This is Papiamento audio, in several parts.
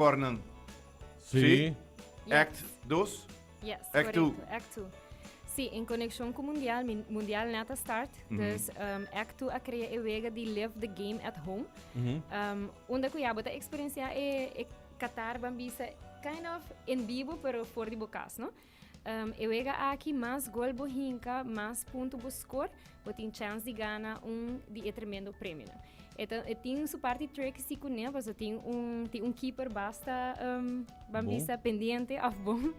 Pornan. Sí. Sí. Ja. Act dos. Yes, Act two. correcto. Act 2. Sí, en conexión cu mundial, mi- mundial net a start. Dus um, Act 2 a crea e wega di Live the Game at Home. Um, unda cu ya bo ta experiencia e, e Qatar, ban bisa kind of en bibo, pero for di bo cas, no? E wega aki mas gol bo hinka, mas punto bo score, bo tin chance di gana un di e tremendo premionan. E, ta, e tin su parti tricky si kuné, paso tin un, tin un keeper basta um, bambista bon. pendiente of bon,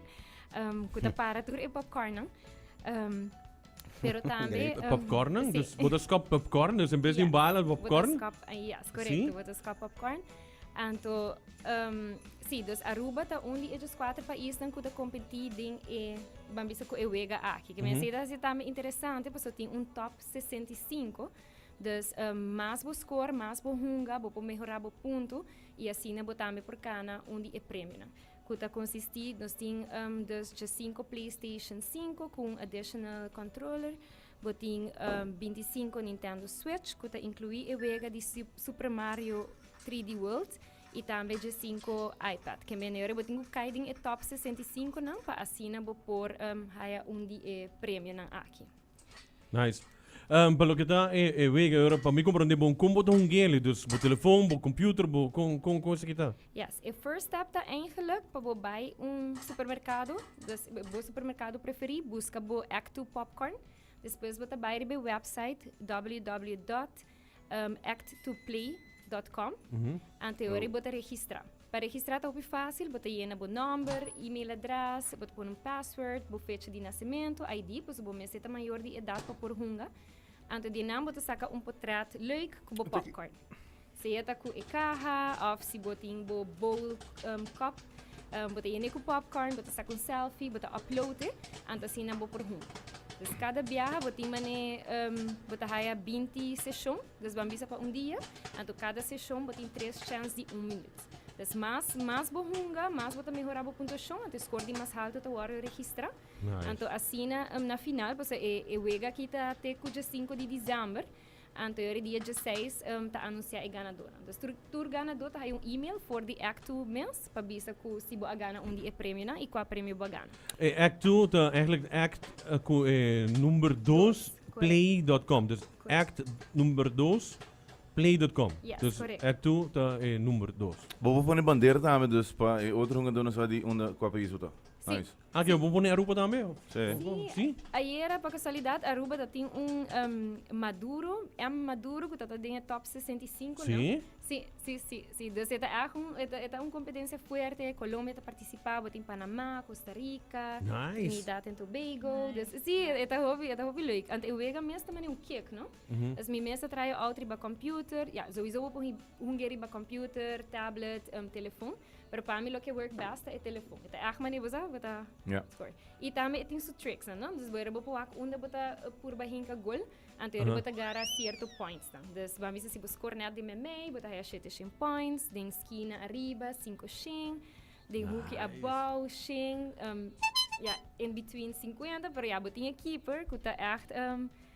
um, ku ta para tur e popcornan. Um, pero tambe... Um, popcorn? Sí. Dus, botas kop popcorn? Dus in vez yeah. di un bala, popcorn? Botas kop, uh, yes, correcto. Sí? Botas kop popcorn. Anto, si, dus Aruba ta un di e dus kuater paisnan ku ta kompetí den e, ban bisa ku e wega aki. Ke mester ta hasi tambe interesante pasobra tin un top sesenta i sinku. Dus, mas bo skor, mas bo hunga, bo por mehorá bo puntu i asina bo tambe por kana un di e premionan. Ku ta konsistí, nos tin dus djasinku Playstation sinku ku un additional controller. Bo tin binti sinku Nintendo Switch ku ta inkluí e wega di Super Mario 3D World i tambe dje sinku iPad. Ke mene ora bo tin ku kai den e top 65 nan pa asina bo por haya un di e premionan aki. Nice. Um, pa loke ta e, e wega, ora pa mi komprondé bon kon bo ta hunguele, dus bo telefon, bo computer, bo kon kon kon esaki ta? Yes, e first step ta eigenlik pa bo bai un supermerkado, dus bo supermerkado preferí, buska bo Act Two Popcorn. Despues bo ta bai riba e website www.acttwoplay.com. Ante ora bo ta registra. Pa registra ta hopi fácil, bo ta yena bo nòmber, email adres, bo ta pone un password, bo fecha di nasementu, ID, pasobra bo mester ta mayor di edat pa por hunga. Ante di nan bo ta saka un potrèt lèuk ku bo popcorn. Sea ta cu e caha of si bo tin bo bowl cup, bo ta yene cu popcorn, bo ta saca un selfie, bo ta upload'e, anto asina bo por hunta. Dus cada biaha bo tin man'e bo ta haya binti seshon, dus bo a bisa pa un dia, anto cada seshon bo tin tres chance di un minuut. Dus mas mas bo hunga, mas bo ta mehora bo puntuashon, anto e score di mas halto ta wordo registra. Anto asina na final, pasobra e wega aki ta te cu djasinco di diciember, Anterior e dia dieseis ta anuncia e ganador. Entonces tur, tur ganador ta hay un email for di Act 2 mes pa bisa cu si bo a gana un di e premio na y cua premio bo a gana. E Act 2 ta eigenlijk Act eh, cu e number 2 Dos, correct. play.com. Dus Correct. Act number 2 play.com. Yes, Dus correct. Act 2 ta e number 2. Bo por pone bandera tambe, dus pa e otro hungador no sa di unda, cua pais bo ta. Si, Nice. Aki bo por pone Aruba tambe? Sí, ayera pa casualidad Aruba ta tin un um, Maduro, M. Maduro cu ta ta den e top 65, no? Sí? Sí, sí, sí, sí. Dus e ta echt un, e ta, e ta un competencia fuerte. Colombia ta participá, bo tin Panamá, Costa Rica, Nice. Trinidad en Tobago. Dus sí, e ta hopi, e ta hopi leuk. Ante e wega mes ta mane un kiek, no? Dus mi mes a traha e out riba computer. Ja, souiso bo por hunge riba computer, tablet, um, telefon. Pero pa mi lo ke work best ta e telefon. E ta ech mane bo sa, bo ta yeah. score. I tambe e tin su tricks, no? Dus bo era bo puak unda bo ta eh, purba hinka gol, ante era uh -huh. bo ta gara cierto points dan. Dus bo bisa si bo score net di memei, bo ta haya 7 points, den skina arriba, 5 shin, den nice. hoekje abouw, shin, um, ehm, ja, in between 50, pero ja, bo tin e keeper, ku ta echt... Um,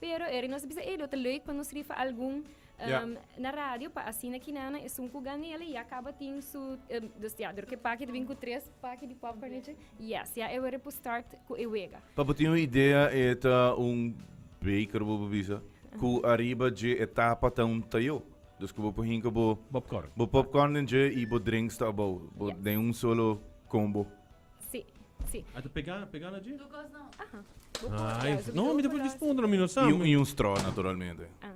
Pero Eric, nos bisa Edo, te leuk pa nos rifa algun yeah. um, na radio pa asina kinana e sun ku ganele ya kaba tin su um, dus ya dor ke paki te bin ku tres paki di popcorn eche yes ya e were pu start ku e wega pa pa tin un idea eta un baker bo bisa ku arriba je etapa ta un tayo dus ku bo hinka bo popcorn bo popcorn den je i bo drinks ta abo bo yeah. den un solo combo Sí, sí. A ta pegá, pegá na dje? Tukos no. Aha. Bo por Nice. ya, su No, mi ta por micrófono respondra, mi no sa. I un strò naturalmente. Aha.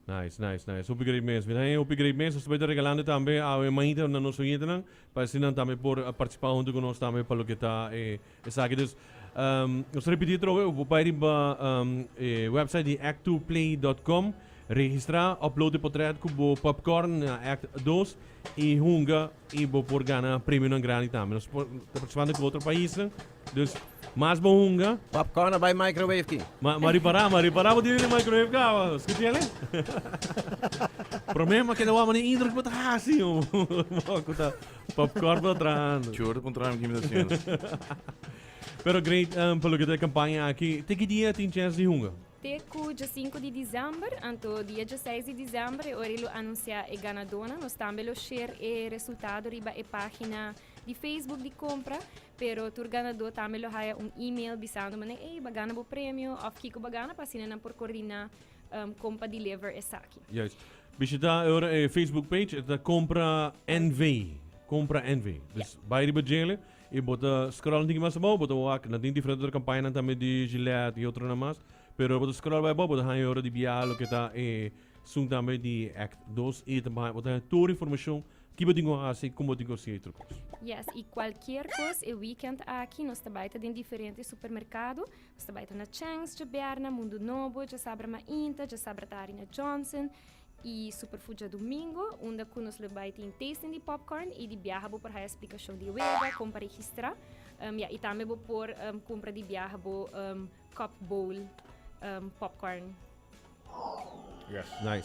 Nice, nice, nice. Hopi great mes. Mira ahí, hopi great mes. Nos ta bai ta regalando tambe a e manhita na nos oyentenan pa así nan tambe por a participá hunto cu nos tambe pa loke ta e esaki. Dus, ehm, nos ta repití atrobe, bo por bai riba, ehm, e website di Act Two Play dot com, registrá, upload e potret cu bo popcorn na Act Dos i hunga I bo por gana premionan grandi tambe. Nos por ta partisipando ku otro paisnan. Dus mas bo hunga. Popcorn a bai microwave ki. Ma ma ripará, ma ripará bo tene den microwave kawa. Skuch'ele? Promé ma keda wòm nen intro ku bo ta hasi un wòk ku ta popcorn ku ta trahando. Churro con tram kimi ta hasiendo. Pero great pa loke ta e kampaña aki. Te ki dia tin chèns di hunga? Te ku djasinku di disember, anto dia djaseis di disember e ora e lo anunsiá e ganadónan. Nos tambe lo sher e resultado riba e página di Facebook di Compra, pero tur ganadó tambe lo haya un e-mail bisando manera ey bo gana bo premio òf kiko bo gana pa asina nan por kordiná kon pa deliver esaki. Juist. Bishitá ora e Facebook page, e ta Compra NV. Compra NV. Dus bai riba djele y bo ta scroll nan tin ki mas abao bo ta wak nan tin diferente otro campaña nan tambe di Gillette y otro nan mas pero bo ta scroll bai abao bo ta haya ora di bia loke ta e esun tambe di act dos y ta bay bo ta haya tur informacion ki bo tin cu haci con bo tin cu haci otro cos. Yes, y cualkier cos e weekend aki nos ta bay ta den diferente supermercado, nos ta bay ta na Chang's dje berna, Mundo Nobo, dje sabra Mainta, dje sabra ta Arina Johnson, i Superfucha Domingo, unda ku nos lo bai tin tasting di popcorn i di biaha bo por haya splikashon di wega, kon pa registrá, um, ya, i tambe bo por um, kumpra di biaha bo um, cup bowl um, popcorn. Yes. Nice.